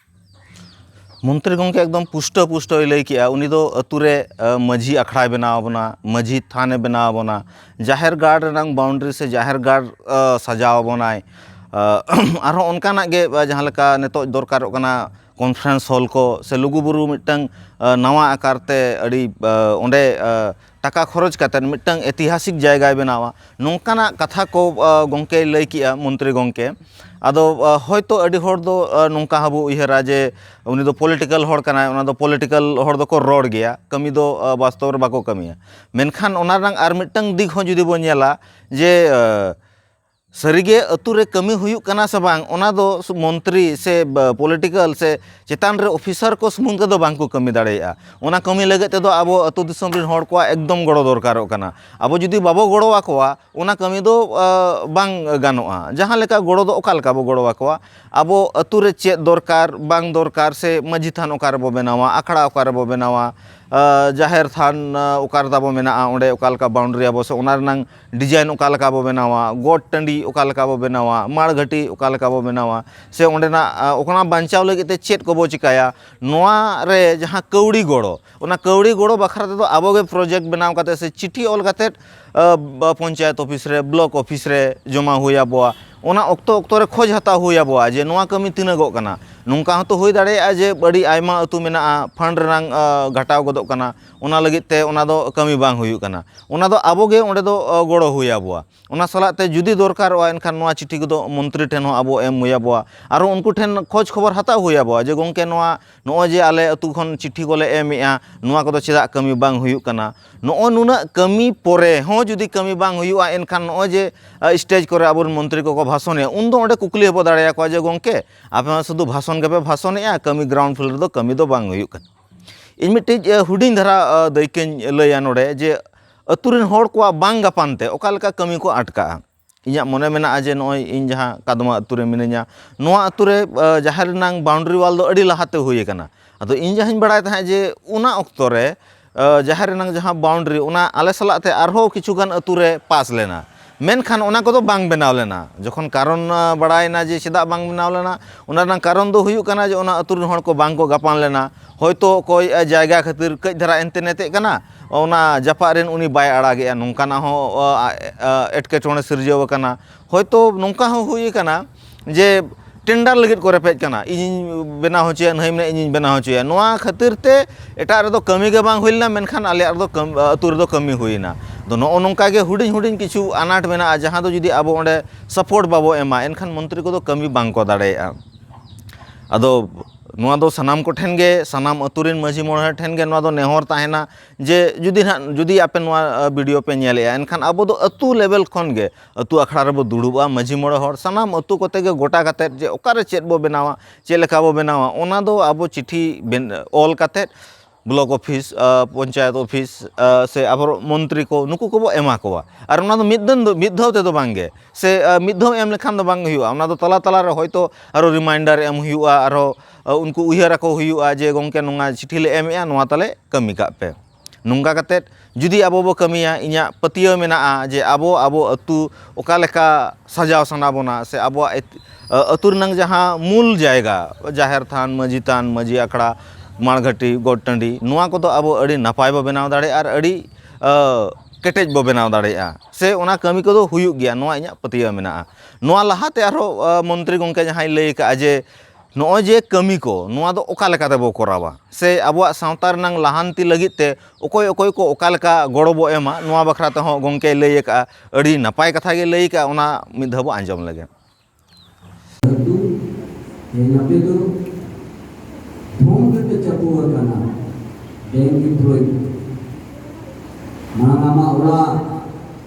ᱢᱚᱱᱛᱨᱤ ᱜᱚᱢᱠᱮ ᱮᱠᱫᱚᱢ ᱯᱩᱥᱴᱟᱹ ᱯᱩᱥᱴᱟᱹᱭ ᱞᱟᱹᱭ ᱠᱮᱜᱼᱟ ᱩᱱᱤ ᱫᱚ ᱟᱛᱳ ᱨᱮ ᱢᱟᱹᱡᱷᱤ ᱟᱠᱷᱲᱟᱭ ᱵᱮᱱᱟᱣ ᱟᱵᱚᱱᱟ ᱢᱟᱹᱡᱷᱤ ᱛᱷᱟᱱᱮ ᱵᱮᱱᱟᱣ ᱟᱵᱚᱱᱟ ᱡᱟᱦᱮᱨ ᱜᱟᱲ ᱨᱮᱱᱟᱝ ᱵᱟᱣᱩᱱᱰᱨᱤ ᱥᱮ ᱡᱟᱦᱮᱨ ᱜᱟᱲ ᱥᱟᱡᱟᱣ ᱟᱵᱚᱱᱟᱭ ᱟᱨᱦᱚᱸ ᱚᱱᱠᱟᱱᱟᱜ ᱜᱮ ᱡᱟᱦᱟᱸ ᱞᱮᱠᱟ ᱱᱤᱛᱚᱜ ᱫᱚᱨᱠᱟᱨᱚᱜ ᱠᱟᱱᱟ ᱠᱚᱱᱯᱷᱟᱨᱮᱱᱥ ᱦᱚᱞ ᱠᱚ ᱥᱮ ᱞᱩᱜᱩᱼᱵᱩᱨᱩ ᱢᱤᱫᱴᱟᱝ ᱱᱟᱣᱟ ᱟᱠᱟᱨ ᱛᱮ ᱟᱹᱰᱤ ᱚᱸᱰᱮ ᱴᱟᱠᱟ ᱠᱷᱚᱨᱚᱪ ᱠᱟᱛᱮᱫ ᱢᱤᱫᱴᱟᱝ ᱤᱛᱤᱦᱟᱥᱤᱠ ᱡᱟᱭᱜᱟᱭ ᱵᱮᱱᱟᱣᱟ ᱱᱚᱝᱠᱟᱱᱟᱜ ᱠᱟᱛᱷᱟ ᱠᱚ ᱜᱚᱢᱠᱮᱭ ᱞᱟᱹᱭ ᱠᱮᱜᱼᱟ ᱢᱚᱱᱛᱨᱤ ᱜᱚᱢᱠᱮ ᱟᱫᱚ ᱦᱚᱭᱛᱳ ᱟᱹᱰᱤ ᱦᱚᱲ ᱫᱚ ᱱᱚᱝᱠᱟ ᱦᱚᱸᱵᱚ ᱩᱭᱦᱟᱹᱨᱟ ᱡᱮ ᱩᱱᱤ ᱫᱚ ᱯᱚᱞᱤᱴᱤᱠᱮᱞ ᱦᱚᱲ ᱠᱟᱱᱟᱭ ᱚᱱᱟ ᱫᱚ ᱯᱚᱞᱤᱴᱤᱠᱮᱞ ᱦᱚᱲ ᱫᱚᱠᱚ ᱨᱚᱲ ᱜᱮᱭᱟ ᱠᱟᱹᱢᱤ ᱫᱚ ᱵᱟᱥᱛᱚᱵ ᱨᱮ ᱵᱟᱠᱚ ᱠᱟᱹᱢᱤᱭᱟ ᱢᱮᱱᱠᱷᱟᱱ ᱚᱱᱟ ᱨᱮᱱᱟᱜ ᱟᱨ ᱢᱤᱫᱴᱟᱝ ᱫᱤᱠ ᱦᱚᱸ ᱡᱩᱫᱤ ᱵᱚᱱ ᱧᱮᱞᱟ ᱡᱮ ᱥᱟᱹᱨᱤᱜᱮ ᱟᱹᱛᱩ ᱨᱮ ᱠᱟᱹᱢᱤ ᱦᱩᱭᱩᱜ ᱠᱟᱱᱟ ᱥᱮ ᱵᱟᱝ ᱚᱱᱟ ᱫᱚ ᱢᱚᱱᱛᱨᱤ ᱥᱮ ᱯᱚᱞᱤᱴᱤᱠᱮᱞ ᱥᱮ ᱪᱮᱛᱟᱱ ᱨᱮ ᱚᱯᱷᱤᱥᱟᱨ ᱠᱚ ᱥᱩᱢᱩᱝ ᱛᱮᱫᱚ ᱵᱟᱝ ᱠᱚ ᱠᱟᱹᱢᱤ ᱫᱟᱲᱮᱭᱟᱜᱼᱟ ᱚᱱᱟ ᱠᱟᱹᱢᱤ ᱞᱟᱹᱜᱤᱫ ᱛᱮᱫᱚ ᱟᱵᱚ ᱟᱹᱛᱩ ᱫᱤᱥᱚᱢ ᱨᱮᱱ ᱦᱚᱲ ᱠᱚᱣᱟᱜ ᱮᱠᱫᱚᱢ ᱜᱚᱲᱚ ᱫᱚᱨᱠᱟᱨᱚᱜ ᱠᱟᱱᱟ ᱟᱵᱚ ᱡᱩᱫᱤ ᱵᱟᱵᱚ ᱜᱚᱲᱚ ᱟᱠᱚᱣᱟ ᱚᱱᱟ ᱠᱟᱹᱢᱤ ᱫᱚ ᱵᱟᱝ ᱜᱟᱱᱚᱜᱼᱟ ᱡᱟᱦᱟᱸ ᱞᱮᱠᱟ ᱜᱚᱲᱚ ᱫᱚ ᱚᱠᱟ ᱞᱮᱠᱟ ᱵᱚᱱ ᱜᱚᱲᱚ ᱟᱠᱚᱣᱟ ᱟᱵᱚ ᱟᱹᱛᱩ ᱨᱮ ᱪᱮᱫ ᱫᱚᱨᱠᱟᱨ ᱵᱟᱝ ᱫᱚᱨᱠᱟᱨ ᱥᱮ ᱢᱟᱹᱡᱷᱤ ᱛᱷᱟᱱ ᱚᱠᱟ ᱨᱮᱵᱚᱱ ᱵᱮᱱᱟᱣᱟ ᱟᱠᱷᱲᱟ ᱚᱠᱟ ᱨᱮᱵᱚᱱ ᱵᱮᱱᱟᱣᱟ ᱡᱟᱦᱮᱨ ᱛᱷᱟᱱ ᱚᱠᱟᱨᱮ ᱛᱟᱵᱚᱱ ᱢᱮᱱᱟᱜᱼᱟ ᱚᱸᱰᱮ ᱚᱠᱟ ᱞᱮᱠᱟ ᱵᱟᱣᱩᱱᱰᱟᱨᱤ ᱟᱵᱚᱱ ᱥᱮ ᱚᱱᱟ ᱨᱮᱱᱟᱝ ᱰᱤᱡᱟᱭᱤᱱ ᱚᱠᱟ ᱞᱮᱠᱟ ᱵᱚ ᱵᱮᱱᱟᱣᱟ ᱜᱚᱴ ᱴᱟᱺᱰᱤ ᱚᱠᱟ ᱞᱮᱠᱟ ᱵᱚ ᱵᱮᱱᱟᱣᱟ ᱢᱟᱲ ᱜᱷᱟᱹᱴᱤ ᱚᱠᱟ ᱞᱮᱠᱟ ᱵᱚ ᱵᱮᱱᱟᱣᱟ ᱥᱮ ᱚᱸᱰᱮᱱᱟᱜ ᱚᱱᱟ ᱵᱟᱧᱪᱟᱣ ᱞᱟᱹᱜᱤᱫ ᱛᱮ ᱪᱮᱫ ᱠᱚᱵᱚ ᱪᱤᱠᱟᱹᱭᱟ ᱱᱚᱣᱟ ᱨᱮ ᱡᱟᱦᱟᱸ ᱠᱟᱹᱣᱰᱤ ᱜᱚᱲᱚ ᱚᱱᱟ ᱠᱟᱹᱣᱰᱤ ᱜᱚᱲᱚ ᱵᱟᱠᱷᱨᱟ ᱛᱮᱫᱚ ᱟᱵᱚ ᱜᱮ ᱯᱨᱚᱡᱮᱠᱴ ᱵᱮᱱᱟᱣ ᱠᱟᱛᱮᱫ ᱥᱮ ᱪᱤᱴᱷᱤ ᱚᱞ ᱠᱟᱛᱮᱫ ᱯᱚᱧᱪᱟᱭᱮᱛ ᱚᱯᱷᱤᱥ ᱨᱮ ᱵᱞᱚᱠ ᱚᱯᱷᱤᱥ ᱨᱮ ᱡᱚᱢᱟ ᱦᱩᱭ ᱟᱵᱚᱣᱟ ᱚᱱᱟ ᱚᱠᱛᱚ ᱚᱠᱛᱚ ᱨᱮ ᱠᱷᱚᱡᱽ ᱦᱟᱛᱟᱣ ᱦᱩᱭ ᱟᱵᱚᱣᱟ ᱡᱮ ᱱᱚᱣᱟ ᱠᱟᱹᱢᱤ ᱛᱤᱱᱟᱹᱜᱚᱜ ᱠᱟᱱᱟ ᱱᱚᱝᱠᱟ ᱦᱚᱸᱛᱚ ᱦᱩᱭ ᱫᱟᱲᱮᱭᱟᱜᱼᱟ ᱡᱮ ᱟᱹᱰᱤ ᱟᱭᱢᱟ ᱟᱹᱛᱩ ᱢᱮᱱᱟᱜᱼᱟ ᱯᱷᱟᱱᱰ ᱨᱮᱱᱟᱜ ᱜᱷᱟᱴᱟᱣ ᱜᱚᱫᱚᱜ ᱠᱟᱱᱟ ᱚᱱᱟ ᱞᱟᱹᱜᱤᱫ ᱛᱮ ᱚᱱᱟ ᱫᱚ ᱠᱟᱹᱢᱤ ᱵᱟᱝ ᱦᱩᱭᱩᱜ ᱠᱟᱱᱟ ᱚᱱᱟ ᱫᱚ ᱟᱵᱚ ᱜᱮ ᱚᱸᱰᱮ ᱫᱚ ᱜᱚᱲᱚ ᱦᱩᱭ ᱟᱵᱚᱣᱟ ᱚᱱᱟ ᱥᱟᱞᱟᱜ ᱛᱮ ᱡᱩᱫᱤ ᱫᱚᱨᱠᱟᱨᱚᱜᱼᱟ ᱮᱱᱠᱷᱟᱱ ᱱᱚᱣᱟ ᱪᱤᱴᱷᱤ ᱠᱚᱫᱚ ᱢᱚᱱᱛᱨᱤ ᱴᱷᱮᱱ ᱦᱚᱸ ᱟᱵᱚ ᱮᱢ ᱦᱩᱭ ᱟᱵᱚᱣᱟ ᱟᱨᱚ ᱩᱱᱠᱩ ᱴᱷᱮᱱ ᱠᱷᱚᱡᱽ ᱠᱷᱚᱵᱚᱨ ᱦᱟᱛᱟᱣ ᱦᱩᱭ ᱟᱵᱚᱣᱟ ᱡᱮ ᱜᱚᱝᱠᱮ ᱱᱚᱣᱟ ᱱᱚᱜᱼᱚᱭ ᱡᱮ ᱟᱞᱮ ᱟᱛᱳ ᱠᱷᱚᱱ ᱪᱤᱴᱷᱤ ᱠᱚᱞᱮ ᱮᱢᱮᱜᱼᱟ ᱱᱚᱣᱟ ᱠᱚᱫᱚ ᱪᱮᱫᱟᱜ ᱠᱟᱹᱢᱤ ᱵᱟᱝ ᱦᱩᱭᱩᱜ ᱠᱟᱱᱟ ᱱᱚᱜᱼᱚᱭ ᱱᱩᱱᱟᱹᱜ ᱠᱟᱹᱢᱤ ᱯᱚᱨᱮ ᱦᱚᱸ ᱡᱩᱫᱤ ᱠᱟᱹᱢᱤ ᱵᱟᱝ ᱦᱩᱭᱩᱜᱼᱟ ᱮᱱᱠᱷᱟᱱ ᱱᱚᱜᱼᱚᱭ ᱡᱮ ᱥᱴᱮᱡᱽ ᱠᱚᱨᱮ ᱟᱵᱚ ᱨᱮᱱ ᱢᱚᱱᱛᱨᱤ ᱠᱚᱠᱚ ᱵᱷᱟᱥᱚᱱᱮᱜᱼᱟ ᱩᱱ ᱫᱚ ᱚᱸᱰᱮ ᱠᱩᱠᱞᱤ ᱦᱚᱸᱵᱚ ᱫᱟᱲᱮᱭᱟᱠᱚᱣᱟ ᱡᱮ ᱜᱚᱝᱠᱮ ᱟᱯᱮ ᱢᱟ ᱥᱩᱫᱷᱩ ᱵᱷᱟᱥᱚᱱ ᱜᱮᱯᱮ ᱵᱷᱟᱥᱚᱱᱮᱜᱼᱟ ᱠᱟᱹᱢᱤ ᱜᱨᱟᱣᱩᱱᱰ ᱯᱷᱞᱳᱨ ᱨᱮᱫᱚ ᱠᱟᱹᱢᱤ ᱫᱚ ᱵᱟᱝ ᱦᱩᱭᱩᱜ ᱠᱟᱱᱟ ᱤᱧ ᱢᱤᱫᱴᱤᱡ ᱦᱩᱰᱤᱧ ᱫᱷᱟᱨᱟ ᱫᱟᱹᱭᱠᱟᱹᱧ ᱞᱟᱹᱭᱟ ᱱᱚᱰᱮ ᱡᱮ ᱟᱹᱛᱩ ᱨᱮᱱ ᱦᱚᱲ ᱠᱚᱣᱟᱜ ᱵᱟᱝ ᱜᱟᱯᱟᱱ ᱛᱮ ᱚᱠᱟ ᱞᱮᱠᱟ ᱠᱟᱹᱢᱤ ᱠᱚ ᱟᱴᱠᱟᱜᱼᱟ ᱤᱧᱟᱹᱜ ᱢᱚᱱᱮ ᱢᱮᱱᱟᱜᱼᱟ ᱡᱮ ᱱᱚᱜᱼᱚᱭ ᱤᱧ ᱡᱟᱦᱟᱸ ᱠᱟᱫᱽᱢᱟ ᱟᱹᱛᱩ ᱨᱮ ᱢᱤᱱᱟᱹᱧᱟ ᱱᱚᱣᱟ ᱟᱹᱛᱩ ᱨᱮ ᱡᱟᱦᱮᱨ ᱨᱮᱱᱟᱝ ᱵᱟᱣᱩᱱᱰᱨᱤ ᱚᱣᱟᱞ ᱫᱚ ᱟᱹᱰᱤ ᱞᱟᱦᱟᱛᱮ ᱦᱩᱭ ᱠᱟᱱᱟ ᱟᱫᱚ ᱤᱧ ᱡᱟᱦᱟᱸᱧ ᱵᱟᱲᱟᱭ ᱛᱟᱦᱮᱸᱫ ᱡᱮ ᱚᱱᱟ ᱚᱠᱛᱚ ᱨᱮ ᱡᱟᱦᱮᱨ ᱨᱮᱱᱟᱝ ᱡᱟᱦᱟᱸ ᱵᱟᱣᱩᱱᱰᱨᱤ ᱚᱱᱟ ᱟᱞᱮ ᱥᱟᱞᱟᱜ ᱛᱮ ᱟᱨᱦᱚᱸ ᱠᱤᱪᱷᱩᱜᱟᱱ ᱟᱹᱛᱩ ᱨᱮ ᱯᱟᱥ ᱞᱮᱱᱟ ᱢᱮᱱᱠᱷᱟᱱ ᱚᱱᱟ ᱠᱚᱫᱚ ᱵᱟᱝ ᱵᱮᱱᱟᱣ ᱞᱮᱱᱟ ᱡᱚᱠᱷᱚᱱ ᱠᱟᱨᱚᱱ ᱵᱟᱲᱟᱭ ᱮᱱᱟ ᱡᱮ ᱪᱮᱫᱟᱜ ᱵᱟᱝ ᱵᱮᱱᱟᱣ ᱞᱮᱱᱟ ᱚᱱᱟ ᱨᱮᱱᱟᱜ ᱠᱟᱨᱚᱱ ᱫᱚ ᱦᱩᱭᱩᱜ ᱠᱟᱱᱟ ᱡᱮ ᱚᱱᱟ ᱟᱛᱳ ᱨᱮᱱ ᱦᱚᱲ ᱠᱚ ᱵᱟᱝ ᱠᱚ ᱜᱟᱯᱟᱱ ᱞᱮᱱᱟ ᱦᱚᱭᱛᱳ ᱚᱠᱚᱭ ᱡᱟᱭᱜᱟ ᱠᱷᱟᱹᱛᱤᱨ ᱠᱟᱹᱡ ᱫᱷᱟᱨᱟ ᱦᱟᱱᱛᱮ ᱱᱟᱛᱮᱜ ᱠᱟᱱᱟ ᱚᱱᱟ ᱡᱟᱯᱟᱜ ᱨᱮᱱ ᱩᱱᱤ ᱵᱟᱭ ᱟᱲᱟᱜᱮᱜᱼᱟ ᱱᱚᱝᱠᱟᱱᱟᱜ ᱦᱚᱸ ᱮᱸᱴᱠᱮᱴᱚᱬᱮ ᱥᱤᱨᱡᱟᱹᱣ ᱠᱟᱱᱟ ᱦᱚᱭᱛᱳ ᱱᱚᱝᱠᱟ ᱦᱚᱸ ᱦᱩᱭ ᱠᱟᱱᱟ ᱡᱮ ᱴᱮᱱᱰᱟᱨ ᱞᱟᱹᱜᱤᱫ ᱠᱚ ᱨᱮᱯᱮᱡ ᱠᱟᱱᱟ ᱤᱧᱤᱧ ᱵᱮᱱᱟᱣ ᱦᱚᱪᱚᱭᱟ ᱱᱟᱹᱭ ᱢᱮᱱᱟᱭ ᱤᱧᱤᱧ ᱵᱮᱱᱟᱣ ᱦᱚᱪᱚᱭᱟ ᱱᱚᱣᱟ ᱠᱷᱟᱹᱛᱤᱨ ᱛᱮ ᱮᱴᱟᱜ ᱨᱮᱫᱚ ᱠᱟᱹᱢᱤ ᱜᱮ ᱵᱟᱝ ᱦᱩᱭ ᱞᱮᱱᱟ ᱢᱮᱱᱠᱷᱟᱱ ᱟᱞᱮᱭᱟᱜ ᱨᱮᱫᱚ ᱟᱹᱛᱩ ᱨᱮᱫᱚ ᱠᱟᱹᱢᱤ ᱦᱩᱭᱱᱟ ᱟᱫᱚ ᱱᱚᱜᱼᱚ ᱱᱚᱝᱠᱟ ᱜᱮ ᱦᱩᱰᱤᱧ ᱦᱩᱰᱤᱧ ᱠᱤᱪᱷᱩ ᱟᱱᱟᱴ ᱢᱮᱱᱟᱜᱼᱟ ᱡᱟᱦᱟᱸ ᱫᱚ ᱡᱩᱫᱤ ᱟᱵᱚ ᱚᱸᱰᱮ ᱥᱟᱯᱳᱨᱴ ᱵᱟᱵᱚ ᱮᱢᱟ ᱮᱱᱠᱷᱟᱱ ᱢᱚᱱᱛᱨᱤ ᱠᱚᱫᱚ ᱠᱟᱹᱢᱤ ᱵᱟᱝ ᱠᱚ ᱫᱟᱲᱮᱭᱟᱜᱼᱟ ᱟᱫᱚ ᱱᱚᱣᱟ ᱫᱚ ᱥᱟᱱᱟᱢ ᱠᱚᱴᱷᱮᱱ ᱜᱮ ᱥᱟᱱᱟᱢ ᱟᱹᱛᱩ ᱨᱮᱱ ᱢᱟᱹᱡᱷᱤ ᱢᱚᱬᱮ ᱦᱚᱲ ᱴᱷᱮᱱ ᱜᱮ ᱱᱚᱣᱟ ᱫᱚ ᱱᱮᱦᱚᱨ ᱛᱟᱦᱮᱱᱟ ᱡᱮ ᱡᱩᱫᱤ ᱦᱟᱸᱜ ᱡᱩᱫᱤ ᱟᱯᱮ ᱱᱚᱣᱟ ᱵᱷᱤᱰᱭᱳ ᱯᱮ ᱧᱮᱞᱮᱜᱼᱟ ᱮᱱᱠᱷᱟᱱ ᱟᱵᱚ ᱫᱚ ᱟᱹᱛᱩ ᱞᱮᱵᱮᱞ ᱠᱷᱚᱱ ᱜᱮ ᱟᱹᱛᱩ ᱟᱠᱷᱲᱟ ᱨᱮᱵᱚ ᱫᱩᱲᱩᱵᱼᱟ ᱢᱟᱹᱡᱷᱤ ᱢᱚᱬᱮ ᱦᱚᱲ ᱥᱟᱱᱟᱢ ᱟᱹᱛᱩ ᱠᱚᱛᱮ ᱜᱮ ᱜᱚᱴᱟ ᱠᱟᱛᱮ ᱡᱮ ᱚᱠᱟᱨᱮ ᱪᱮᱫ ᱵᱚ ᱵᱮᱱᱟᱣᱟ ᱪᱮᱫ ᱞᱮᱠᱟ ᱵᱚ ᱵᱮᱱᱟᱣᱟ ᱚᱱᱟ ᱫᱚ ᱟᱵᱚ ᱪᱤᱴᱷᱤ ᱚᱞ ᱠᱟᱛᱮ ᱵᱞᱚᱠ ᱚᱯᱷᱤᱥ ᱯᱚᱧᱪᱟᱭᱮᱛ ᱚᱯᱷᱤᱥ ᱥᱮ ᱟᱵᱚ ᱢᱚᱱᱛᱨᱤ ᱠᱚ ᱱᱩᱠᱩ ᱠᱚᱵᱚ ᱮᱢᱟ ᱠᱚᱣᱟ ᱟᱨ ᱚᱱᱟ ᱫᱚ ᱢᱤᱫ ᱫᱤᱱ ᱫᱚ ᱢᱤᱫ ᱫᱷᱟᱣ ᱛᱮᱫᱚ ᱵᱟᱝ ᱜᱮ ᱥᱮ ᱢᱤᱫ ᱫᱷᱟᱣ ᱮᱢ ᱞᱮᱠᱷᱟᱱ ᱫᱚ ᱵᱟᱝ ᱦᱩᱭᱩᱜᱼᱟ ᱚᱱᱟ ᱫᱚ ᱛᱟᱞᱟ ᱛᱟᱞᱟ ᱨᱮ ᱦᱚᱭᱛᱳ ᱟᱨᱚ ᱨᱤᱢᱟᱭᱤᱱᱰᱟᱨ ᱮᱢ ᱦᱩᱭᱩᱜᱼᱟ ᱟᱨᱚ ᱩᱱᱠᱩ ᱩᱭᱦᱟᱹᱨ ᱟᱠᱚ ᱦᱩᱭᱩᱜᱼᱟ ᱡᱮ ᱜᱚᱢᱠᱮ ᱱᱚᱣᱟ ᱪᱤᱴᱷᱤ ᱞᱮ ᱮᱢᱮᱜᱼᱟ ᱱᱚᱣᱟ ᱛᱟᱞᱮ ᱠᱟᱹᱢᱤ ᱠᱟᱜ ᱯᱮ ᱱᱚᱝᱠᱟ ᱠᱟᱛᱮ ᱡᱩᱫᱤ ᱟᱵᱚ ᱵᱚ ᱠᱟᱹᱢᱤᱭᱟ ᱤᱧᱟᱹᱜ ᱯᱟᱹᱛᱭᱟᱹᱣ ᱢᱮᱱᱟᱜᱼᱟ ᱡᱮ ᱟᱵᱚ ᱟᱵᱚ ᱟᱛᱳ ᱚᱠᱟ ᱞᱮᱠᱟ ᱥᱟᱡᱟᱣ ᱥᱟᱱᱟ ᱵᱚᱱᱟ ᱥᱮ ᱟᱵᱚᱣᱟᱜ ᱟᱛᱳ ᱨᱮᱱᱟᱝ ᱡᱟᱦᱟᱸ ᱢᱩᱞ ᱡᱟᱭᱜᱟ ᱡᱟᱦᱮᱨ ᱛᱷᱟᱱ ᱢᱟᱹᱡᱷᱤ ᱛᱷᱟᱱ ᱢᱟᱹᱡᱷᱤ ᱟᱠᱷᱲᱟ ᱢᱟᱬ ᱜᱷᱟᱹᱴᱤ ᱜᱚᱴ ᱴᱟᱺᱰᱤ ᱱᱚᱣᱟ ᱠᱚᱫᱚ ᱟᱵᱚ ᱟᱹᱰᱤ ᱱᱟᱯᱟᱭ ᱵᱚ ᱵᱮᱱᱟᱣ ᱫᱟᱲᱮᱭᱟᱜᱼᱟ ᱟᱨ ᱟᱹᱰᱤ ᱠᱮᱴᱮᱡ ᱵᱚ ᱵᱮᱱᱟᱣ ᱫᱟᱲᱮᱭᱟᱜᱼᱟ ᱥᱮ ᱚᱱᱟ ᱠᱟᱹᱢᱤ ᱠᱚᱫᱚ ᱦᱩᱭᱩᱜ ᱜᱮᱭᱟ ᱱᱚᱣᱟ ᱤᱧᱟᱹᱜ ᱯᱟᱹᱛᱭᱟᱹᱣ ᱢᱮᱱᱟᱜᱼᱟ ᱱᱚᱣᱟ ᱞᱟᱦᱟᱛᱮ ᱟᱨᱦᱚᱸ ᱢᱚᱱᱛᱨᱤ ᱜᱚᱢᱠᱮ ᱡᱟᱦᱟᱸᱭ ᱞᱟᱹᱭ ᱠᱟᱜᱼᱟ ᱡᱮ ᱱᱚᱜᱼᱚᱭ ᱡᱮ ᱠᱟᱹᱢᱤ ᱠᱚ ᱱᱚᱣᱟ ᱫᱚ ᱚᱠᱟ ᱞᱮᱠᱟ ᱛᱮᱵᱚ ᱠᱚᱨᱟᱣᱟ ᱥᱮ ᱟᱵᱚᱣᱟᱜ ᱥᱟᱶᱛᱟ ᱨᱮᱱᱟᱝ ᱞᱟᱦᱟᱱᱛᱤ ᱞᱟᱹᱜᱤᱫ ᱛᱮ ᱚᱠᱚᱭ ᱚᱠᱚᱭ ᱠᱚ ᱚᱠᱟ ᱞᱮᱠᱟ ᱜᱚᱲᱚ ᱵᱚ ᱮᱢᱟ ᱱᱚᱣᱟ ᱵᱟᱠᱷᱨᱟ ᱛᱮᱦᱚᱸ ᱜᱚᱢᱠᱮᱭ ᱞᱟᱹᱭ ᱟᱠᱟᱫᱼᱟ ᱟᱹᱰᱤ ᱱᱟᱯᱟᱭ ᱠᱟᱛᱷᱟ ᱜᱮᱭ ᱞᱟᱹᱭ ᱟᱠᱟᱫᱼᱟ ᱚᱱᱟ ᱢᱤᱫ ᱫᱷᱟᱣ ᱵᱚ ᱟᱸᱡᱚᱢ ᱞᱮᱜᱮ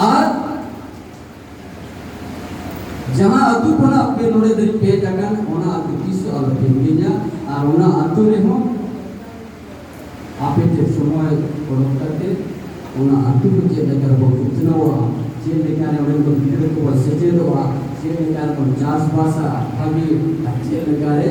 ᱟᱨ ᱡᱟᱦᱟᱸ ᱟᱹᱛᱩ ᱠᱷᱚᱱᱟᱜ ᱯᱮ ᱱᱚᱰᱮ ᱫᱷᱟᱹᱨᱤᱡ ᱯᱮ ᱦᱮᱡ ᱟᱠᱟᱱ ᱚᱱᱟ ᱟᱹᱛᱩ ᱛᱤᱥ ᱦᱚᱸ ᱟᱞᱚ ᱯᱮ ᱦᱤᱲᱤᱧᱟ ᱟᱨ ᱚᱱᱟ ᱟᱹᱛᱩ ᱨᱮᱦᱚᱸ ᱟᱯᱮ ᱛᱮ ᱥᱚᱢᱚᱭ ᱚᱰᱚᱠ ᱠᱟᱛᱮ ᱚᱱᱟ ᱟᱹᱛᱩ ᱠᱚ ᱪᱮᱫ ᱞᱮᱠᱟ ᱨᱮᱵᱚᱱ ᱩᱛᱱᱟᱹᱣᱟ ᱪᱮᱫ ᱞᱮᱠᱟ ᱨᱮ ᱚᱸᱰᱮ ᱠᱚ ᱜᱤᱫᱽᱨᱟᱹ ᱠᱚᱵᱚᱱ ᱥᱮᱪᱮᱫᱚᱜᱼᱟ ᱪᱮᱫ ᱞᱮᱠᱟ ᱨᱮᱵᱚᱱ ᱪᱟᱥᱵᱟᱥᱟ ᱵᱷᱟᱹᱜᱤ ᱟᱨ ᱪᱮᱫ ᱞᱮᱠᱟ ᱨᱮ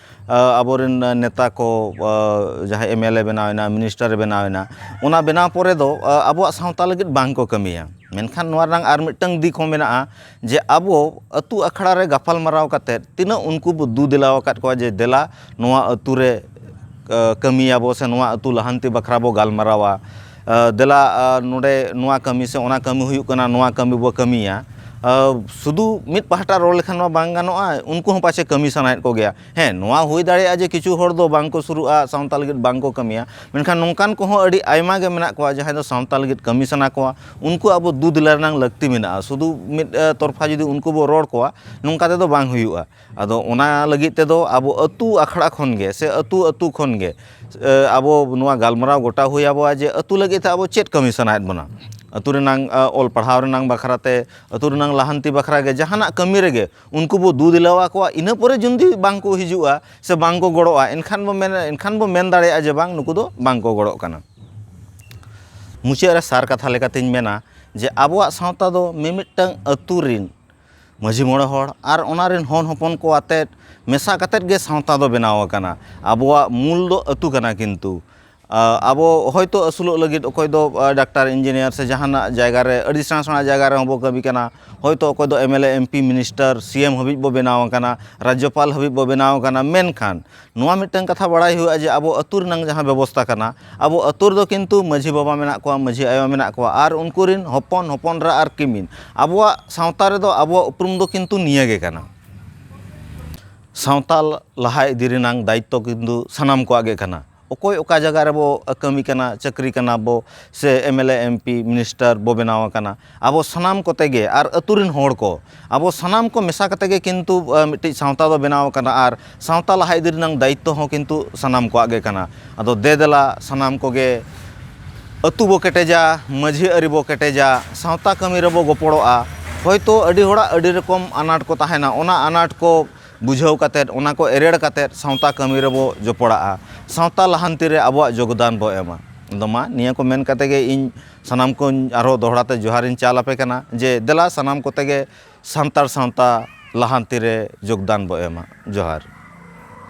ᱟᱵᱚ ᱨᱮᱱ ᱱᱮᱛᱟ ᱠᱚ ᱡᱟᱦᱟᱸᱭ ᱮᱢ ᱮᱞ ᱮ ᱵᱮᱱᱟᱣ ᱮᱱᱟ ᱢᱤᱱᱤᱥᱴᱟᱨᱮ ᱵᱮᱱᱟᱣ ᱮᱱᱟ ᱚᱱᱟ ᱵᱮᱱᱟᱣ ᱯᱚᱨᱮ ᱫᱚ ᱟᱵᱚᱣᱟᱜ ᱥᱟᱶᱛᱟ ᱞᱟᱹᱜᱤᱫ ᱵᱟᱝ ᱠᱚ ᱠᱟᱹᱢᱤᱭᱟ ᱢᱮᱱᱠᱷᱟᱱ ᱱᱚᱣᱟ ᱨᱮᱱᱟᱜ ᱟᱨ ᱢᱤᱫᱴᱟᱝ ᱫᱤᱠ ᱦᱚᱸ ᱢᱮᱱᱟᱜᱼᱟ ᱡᱮ ᱟᱵᱚ ᱟᱛᱳ ᱟᱠᱷᱲᱟ ᱨᱮ ᱜᱟᱯᱟᱞᱢᱟᱨᱟᱣ ᱠᱟᱛᱮᱫ ᱛᱤᱱᱟᱹᱜ ᱩᱱᱠᱩ ᱵᱚ ᱫᱩ ᱫᱮᱞᱟ ᱟᱠᱟᱫ ᱠᱚᱣᱟ ᱡᱮ ᱫᱮᱞᱟ ᱱᱚᱣᱟ ᱟᱛᱳ ᱨᱮ ᱠᱟᱹᱢᱤᱭᱟᱵᱚ ᱥᱮ ᱱᱚᱣᱟ ᱟᱛᱳ ᱞᱟᱦᱟᱱᱛᱤ ᱵᱟᱠᱷᱨᱟ ᱵᱚ ᱜᱟᱞᱢᱟᱨᱟᱣᱟ ᱫᱮᱞᱟ ᱱᱚᱰᱮ ᱱᱚᱣᱟ ᱠᱟᱹᱢᱤ ᱥᱮ ᱚᱱᱟ ᱠᱟᱹᱢᱤ ᱦᱩᱭᱩᱜ ᱠᱟᱱᱟ ᱱᱚᱣᱟ ᱠᱟᱹᱢᱤ ᱵᱚ ᱠᱟᱹᱢᱤᱭᱟ ᱥᱩᱫᱩ ᱢᱤᱫ ᱯᱟᱦᱴᱟ ᱨᱚᱲ ᱞᱮᱠᱷᱟᱱ ᱢᱟ ᱵᱟᱝ ᱜᱟᱱᱚᱜᱼᱟ ᱩᱱᱠᱩ ᱦᱚᱸ ᱯᱟᱪᱮᱫ ᱠᱟᱹᱢᱤ ᱥᱟᱱᱟᱭᱮᱫ ᱠᱚᱜᱮᱭᱟ ᱦᱮᱸ ᱱᱚᱣᱟ ᱦᱩᱭ ᱫᱟᱲᱮᱭᱟᱜᱼᱟ ᱡᱮ ᱠᱤᱪᱷᱩ ᱦᱚᱲ ᱫᱚ ᱵᱟᱝ ᱠᱚ ᱥᱩᱨᱩᱜᱼᱟ ᱥᱟᱶᱛᱟ ᱞᱟᱹᱜᱤᱫ ᱵᱟᱝ ᱠᱚ ᱠᱟᱹᱢᱤᱭᱟ ᱢᱮᱱᱠᱷᱟᱱ ᱱᱚᱝᱠᱟᱱ ᱠᱚᱦᱚᱸ ᱟᱹᱰᱤ ᱟᱭᱢᱟ ᱜᱮ ᱢᱮᱱᱟᱜ ᱠᱚᱣᱟ ᱡᱟᱦᱟᱸᱭ ᱫᱚ ᱥᱟᱶᱛᱟ ᱞᱟᱹᱜᱤᱫ ᱠᱟᱹᱢᱤ ᱥᱟᱱᱟ ᱠᱚᱣᱟ ᱩᱱᱠᱩ ᱟᱵᱚ ᱫᱩ ᱫᱮᱞᱟ ᱨᱮᱱᱟᱜ ᱞᱟᱹᱠᱛᱤ ᱢᱮᱱᱟᱜᱼᱟ ᱥᱩᱫᱩ ᱢᱤᱫ ᱛᱚᱨᱯᱷᱟ ᱡᱩᱫᱤ ᱩᱱᱠᱩ ᱵᱚᱱ ᱨᱚᱲ ᱠᱚᱣᱟ ᱱᱚᱝᱠᱟ ᱛᱮᱫᱚ ᱵᱟᱝ ᱦᱩᱭᱩᱜᱼᱟ ᱟᱫᱚ ᱚᱱᱟ ᱞᱟᱹᱜᱤᱫ ᱛᱮᱫᱚ ᱟᱵᱚ ᱟᱹᱛᱩ ᱟᱠᱷᱲᱟ ᱠᱷᱚᱱ ᱜᱮ ᱥᱮ ᱟᱹᱛᱩ ᱟᱹᱛᱩ ᱠᱷᱚᱱ ᱜᱮ ᱟᱵᱚ ᱱᱚᱣᱟ ᱜᱟᱞᱢᱟᱨᱟᱣ ᱜᱚᱴᱟ ᱦᱩᱭ ᱟᱵᱚᱣᱟ ᱡᱮ ᱟᱹᱛᱩ ᱞᱟᱹᱜᱤᱫ ᱛᱮ ᱟᱵᱚ ᱪᱮᱫ ᱠᱟᱹᱢᱤ ᱥᱟᱱᱟᱭᱮᱫ ᱵᱚᱱᱟ ᱟᱹᱛᱩ ᱨᱮᱱᱟᱝ ᱚᱞ ᱯᱟᱲᱦᱟᱣ ᱨᱮᱱᱟᱝ ᱵᱟᱠᱷᱨᱟ ᱛᱮ ᱟᱹᱛᱩ ᱨᱮᱱᱟᱝ ᱞᱟᱦᱟᱱᱛᱤ ᱵᱟᱠᱷᱨᱟ ᱜᱮ ᱡᱟᱦᱟᱱᱟᱜ ᱠᱟᱹᱢᱤ ᱨᱮᱜᱮ ᱩᱱᱠᱩ ᱵᱚ ᱫᱩ ᱫᱮᱞᱟ ᱟᱠᱚᱣᱟ ᱤᱱᱟᱹ ᱯᱚᱨᱮ ᱡᱩᱫᱤ ᱵᱟᱝ ᱠᱚ ᱦᱤᱡᱩᱜᱼᱟ ᱥᱮ ᱵᱟᱝ ᱠᱚ ᱜᱚᱲᱚᱜᱼᱟ ᱮᱱᱠᱷᱟᱱ ᱵᱚ ᱢᱮᱱᱟ ᱮᱱᱠᱷᱟᱱ ᱵᱚ ᱢᱮᱱ ᱫᱟᱲᱮᱭᱟᱜᱼᱟ ᱡᱮ ᱵᱟᱝ ᱱᱩᱠᱩ ᱫᱚ ᱵᱟᱝ ᱠᱚ ᱜᱚᱲᱚᱜ ᱠᱟᱱᱟ ᱢᱩᱪᱟᱹᱫ ᱨᱮ ᱥᱟᱨ ᱠᱟᱛᱷᱟ ᱞᱮᱠᱟᱛᱤᱧ ᱢᱮᱱᱟ ᱡᱮ ᱟᱵᱚᱣᱟᱜ ᱥᱟᱶᱛᱟ ᱫᱚ ᱢᱤᱢᱤᱫᱴᱟᱹᱝ ᱟᱹᱛᱩ ᱨᱤᱱ ᱢᱟᱺᱡᱷᱤ ᱢᱚᱬᱮ ᱦᱚᱲ ᱟᱨ ᱚᱱᱟ ᱨᱮᱱ ᱦᱚᱱ ᱦᱚᱯᱚᱱ ᱠᱚ ᱟᱛᱮᱫ ᱢᱮᱥᱟ ᱠᱟᱛᱮᱫ ᱜᱮ ᱥᱟᱶᱛᱟ ᱫᱚ ᱵᱮᱱᱟᱣ ᱟᱠᱟᱱᱟ ᱟᱵᱚᱣᱟᱜ ᱢᱩᱞ ᱫᱚ ᱟᱹᱛᱩ ᱠᱟᱱᱟ ᱠᱤᱱᱛᱩ ᱟᱵᱚ ᱦᱚᱭᱛᱳ ᱟᱹᱥᱩᱞᱚᱜ ᱞᱟᱹᱜᱤᱫ ᱚᱠᱚᱭ ᱫᱚ ᱰᱟᱠᱛᱟᱨ ᱤᱧᱡᱤᱱᱤᱭᱟᱨ ᱥᱮ ᱡᱟᱦᱟᱱᱟᱜ ᱡᱟᱭᱜᱟ ᱨᱮ ᱟᱹᱰᱤ ᱥᱮᱬᱟ ᱥᱮᱬᱟ ᱡᱟᱭᱜᱟ ᱨᱮᱦᱚᱸ ᱵᱚᱱ ᱠᱟᱹᱢᱤ ᱠᱟᱱᱟ ᱦᱚᱭᱛᱳ ᱚᱠᱚᱭ ᱫᱚ MLA MP minister C M ᱦᱟᱹᱵᱤᱡ ᱵᱚᱱ ᱵᱮᱱᱟᱣ ᱟᱠᱟᱱᱟ ᱨᱟᱡᱽᱡᱚᱯᱟᱞ ᱦᱟᱹᱵᱤᱡ ᱵᱚᱱ ᱵᱮᱱᱟᱣ ᱟᱠᱟᱱᱟ ᱢᱮᱱᱠᱷᱟᱱ ᱱᱚᱣᱟ ᱢᱤᱫᱴᱟᱝ ᱠᱟᱛᱷᱟ ᱵᱟᱲᱟᱭ ᱦᱩᱭᱩᱜᱼᱟ ᱡᱮ ᱟᱵᱚ ᱟᱹᱛᱩ ᱨᱮᱱᱟᱝ ᱡᱟᱦᱟᱸ ᱵᱮᱵᱚᱥᱛᱟ ᱠᱟᱱᱟ ᱟᱵᱚ ᱟᱹᱛᱩ ᱨᱮᱫᱚ ᱠᱤᱱᱛᱩ ᱢᱟᱹᱡᱷᱤ ᱵᱟᱵᱟ ᱢᱮᱱᱟᱜ ᱠᱚᱣᱟ ᱢᱟᱹᱡᱷᱤ ᱟᱭᱳ ᱢᱮᱱᱟᱜ ᱠᱚᱣᱟ ᱟᱨ ᱩᱱᱠᱩ ᱨᱮᱱ ᱦᱚᱯᱚᱱ ᱦᱚᱯᱚᱱ ᱮᱨᱟ ᱟᱨ ᱠᱤᱢᱤᱱ ᱟᱵᱚᱣᱟᱜ ᱥᱟᱶᱛᱟ ᱨᱮᱫᱚ ᱟᱵᱚᱣᱟᱜ ᱩᱯᱨᱩᱢ ᱫᱚ ᱠᱤᱱᱛᱩ ᱱᱤᱭᱟᱹ ᱜᱮ ᱠᱟᱱᱟ ᱥᱟᱶᱛᱟ ᱞᱟᱦᱟ ᱤᱫᱤ ᱨᱮᱱᱟᱝ ᱫᱟᱭᱤᱛᱛᱚ ᱠᱤᱱᱛᱩ ᱥᱟᱱᱟᱢ ᱠᱚᱣᱟᱜ ᱜᱮ ᱠᱟᱱᱟ ᱚᱠᱚᱭ ᱚᱠᱟ ᱡᱟᱭᱜᱟ ᱨᱮᱵᱚ ᱠᱟᱹᱢᱤ ᱠᱟᱱᱟ ᱪᱟᱹᱠᱨᱤ ᱠᱟᱱᱟ ᱵᱚ ᱥᱮ ᱮᱢᱮᱞᱮ ᱮᱢᱯᱤ ᱢᱤᱱᱤᱥᱴᱟᱨ ᱵᱚ ᱵᱮᱱᱟᱣ ᱟᱠᱟᱱᱟ ᱟᱵᱚ ᱥᱟᱱᱟᱢ ᱠᱚᱛᱮ ᱜᱮ ᱟᱨ ᱟᱹᱛᱩ ᱨᱮᱱ ᱦᱚᱲ ᱠᱚ ᱟᱵᱚ ᱥᱟᱱᱟᱢ ᱠᱚ ᱢᱮᱥᱟ ᱠᱟᱛᱮ ᱜᱮ ᱠᱤᱱᱛᱩ ᱢᱤᱫᱴᱤᱡ ᱥᱟᱶᱛᱟ ᱫᱚ ᱵᱮᱱᱟᱣ ᱟᱠᱟᱱᱟ ᱟᱨ ᱥᱟᱶᱛᱟ ᱞᱟᱦᱟ ᱤᱫᱤ ᱨᱮᱱᱟᱜ ᱫᱟᱭᱤᱛᱛᱚ ᱦᱚᱸ ᱠᱤᱱᱛᱩ ᱥᱟᱱᱟᱢ ᱠᱚᱣᱟᱜ ᱜᱮ ᱠᱟᱱᱟ ᱟᱫᱚ ᱫᱮ ᱫᱮᱞᱟ ᱥᱟᱱᱟᱢ ᱠᱚᱜᱮ ᱟᱹᱛᱩ ᱵᱚ ᱠᱮᱴᱮᱡᱟ ᱢᱟᱹᱡᱷᱤ ᱟᱹᱨᱤ ᱵᱚ ᱠᱮᱴᱮᱡᱟ ᱥᱟᱶᱛᱟ ᱠᱟᱹᱢᱤ ᱨᱮᱵᱚ ᱜᱚᱯᱚᱲᱚᱜᱼᱟ ᱦᱳᱭᱛᱳ ᱟᱹᱰᱤ ᱦᱚᱲᱟᱜ ᱟᱹᱰᱤ ᱨᱚᱠᱚᱢ ᱟᱱᱟᱴ ᱠᱚ ᱛᱟᱦᱮᱱᱟ ᱚᱱᱟ ᱟᱱᱟᱴ ᱠᱚ ᱵᱩᱡᱷᱟᱹᱣ ᱠᱟᱛᱮ ᱚᱱᱟ ᱠᱚ ᱮᱨᱮᱲ ᱠᱟᱛᱮ ᱥᱟᱶᱛᱟ ᱠᱟᱹᱢᱤ ᱨᱮᱵᱚ ᱡᱚᱯᱚᱲᱟᱜᱼᱟ ᱥᱟᱶᱛᱟ ᱞᱟᱦᱟᱱᱛᱤ ᱨᱮ ᱟᱵᱚᱣᱟᱜ ᱡᱳᱜᱽᱫᱟᱱ ᱵᱚ ᱮᱢᱟ ᱟᱫᱚ ᱢᱟ ᱱᱤᱭᱟᱹ ᱠᱚ ᱢᱮᱱ ᱠᱟᱛᱮ ᱜᱮ ᱤᱧ ᱥᱟᱱᱟᱢ ᱠᱚ ᱟᱨᱦᱚᱸ ᱫᱚᱦᱲᱟ ᱛᱮ ᱡᱚᱦᱟᱨ ᱤᱧ ᱪᱟᱞ ᱟᱯᱮ ᱠᱟᱱᱟ ᱡᱮ ᱫᱮᱞᱟ ᱥᱟᱱᱟᱢ ᱠᱚᱛᱮ ᱜᱮ ᱥᱟᱱᱛᱟᱲ ᱥᱟᱶᱛᱟ ᱞᱟᱦᱟᱱᱛᱤ ᱨᱮ ᱡᱳᱜᱽᱫᱟᱱ ᱵᱚᱱ ᱮᱢᱟ ᱡᱚᱦᱟᱨ